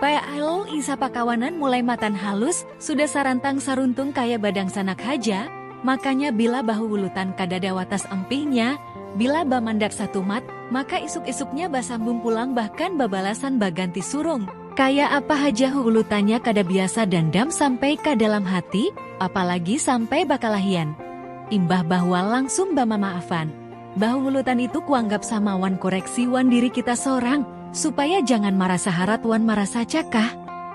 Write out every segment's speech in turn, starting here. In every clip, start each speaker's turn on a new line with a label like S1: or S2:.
S1: Pl, isa pakawanan mulai matan halus, sudah sarantang saruntung kaya badangsanak haja, makanya bila bahuwulutan kadada watas empihnya, bila bamandak satumat, maka isuk-isuknya basambung pulang bahkan babalasan baganti surung, kaya apa haja huwulutannya kada biasa dandam sampai ka dalam hati, apalagi sampai bakalahian. Imbah bahual langsung bamamaafan. Bahungulotan itu kuanggap sama wan koreksi wan diri kita sorang, supaya jangan marasa harat wan marasa cakah,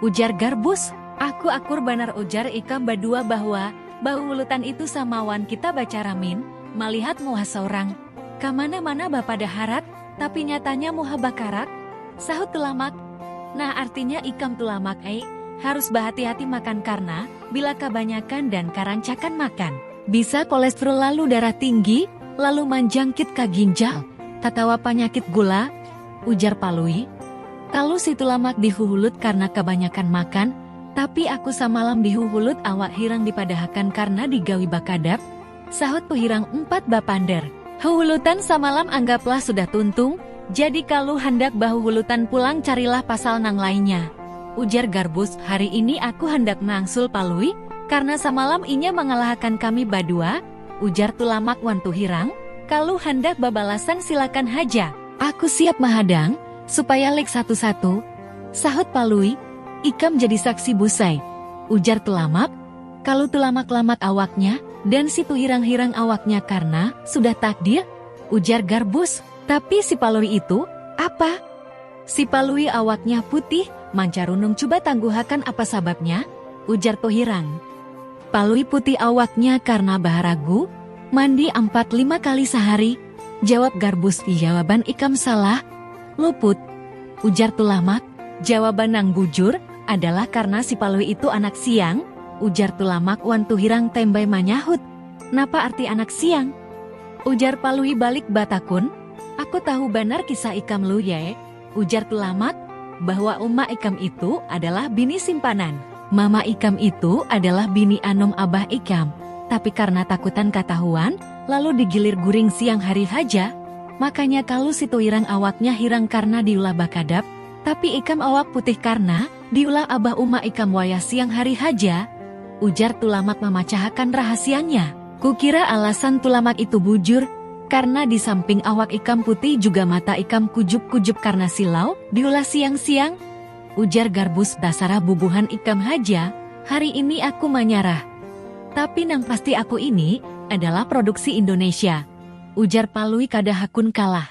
S1: ujar Garbus. Aku akur banar ujar ikam badua bahwa bahungulotan itu sama wan kita bacara min, malihat muha sorang. Kamana-mana bapada harat, tapi nyatanya muha bakarat, sahut Tulamak. Nah artinya ikam Tulamak ai harus bahati-hati makan karna bila kabanyakan dan karancakan makan. Bisa kolestrol lalu darah tinggi, lalu manjangkit ka ginjal, tatawa panyakit gula, ujar Palui. Kalu situ lamak di huhulut karna kabanyakan makan, tapi aku samalam di huhulut awak hirang dipadahakan karna digawi bakadap, sahut Puhirang umpat bapander. Huhulutan samalam anggaplah sudah tuntung, Jadi kalu handak bahuhulutan pulang carilah pasal nang lainnya. Ujar Garbus, hari ini aku handak meangsul Palui, karna samalam inya mangalahakan kami badua, ujar Tulamak wan Tuhirang, kalu handak babalasan silakan haja. Aku siap mahadang, supaya lik satu-satu, sahut Palui, ikam jadi saksi Busai, ujar Tulamak, kalu Tulamak lamat awaknya, dan si Tuhirang hirang awaknya karna sudah takdir, ujar Garbus. Tapi si Palui itu, apa? Si Palui awaknya putih, mancarunung cuba tangguhakan apa sababnya? ujar Tuhirang. Palui putih awaknya karna baharagu, mandi ampat lima kali sahari, jawab Garbus Jawaban ikam salah, luput, ujar Tulamak. Jawaban nang bujur adalah karna si Palui itu anak siang, ujar Tulamak wan Tuhirang tembay manyahut. Napa arti anak siang? Ujar Palui balik batakun, Aku tahu banar kisah ikam Lu Yae, ujar Tulamak, bahwa uma ikam itu adalah bini simpanan. Mama ikam itu adalah bini anum abah ikam, tapi karna takutan katahuan, lalu digilir guring siang hari haja, makanya kalu situirang awaknya hirang karna diulah bakadap, tapi ikam awak putih karna. Diulah abah uma ikam wayah siang hari haja? ujar Tulamak mamacahakan rahasianya. Kukira alasan Tulamak itu bujur, karna di samping awak ikam putih juga mata ikam kujup-kujup karna silau, diulah siang-siang? ujar Garbus Basarah bubuhan ikam haja, hari ini aku manyarah. Tapi nang pasti aku ini adalah produksi Indonesia, ujar Palui kada hakun kalah.